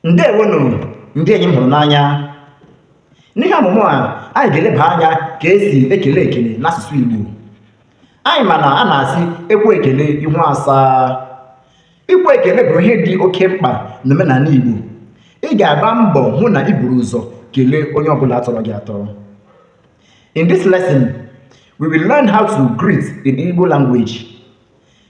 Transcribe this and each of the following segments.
ndewonu ndị enyi m hụrụ n'anya n'ihe ọmụmụ a anyị ga-eleba anya ka e si ekele ekele n'asụsụ Igbo anyị ma na a na-asị e kwee ekele ihu asaa ikwe ekele bụ ihe dị oke mkpa n'omenala Igbo ị ga-agba mbọ hụ na i buru ụzọ kelee onye ọbụla tọrọ gị atọ in this lesson we will learn how to greet in Igbo language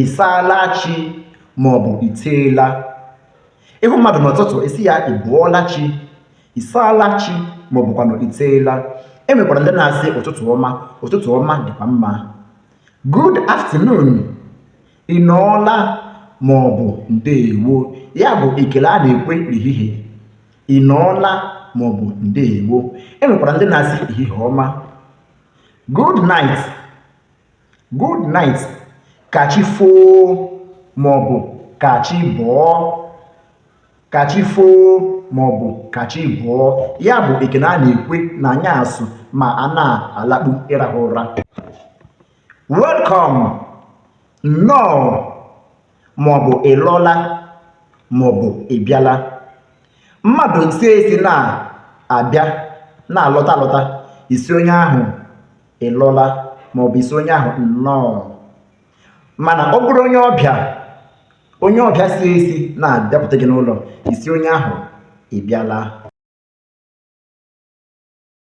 ị saala chi maọbụ ị teela ị hụ mmadụ n'ụtụtụ ị sị ya ị bọọla chi ị saala chi maọbụkwanụ ị teela e nwekwara ndị na-asị ụtụtụ ọma ụtụtụ ọma dịkwa mma good afternoon ị nọọla maọbụ ndeewo ya bụ ekele a na-ekwe n'ehihie ị nọọla maọbụ ndeewo e nwekwara ndị na-asị ehihie ọma good night good night ka chi foo maọbụ ka chi bọọ ka chi foo maọbụ ka chi bọọ ya bụ ekene a na-ekwe na anyasụ ma a na-alakpu ịrahụ ụra welcome nnọọ maọbụ ị lọla maọbụ ị bịala mmadụ si ezi na-abịa na-alọta alọta ị sị onye ahụ ị lọla ma ọ bụ ị sị onye ahụ nnọọ mana ọ bụrụ onye ọbịa onye ọbịa si ezi na-abịapụta gị n'ụlọ ị sị onye ahụ ị bịala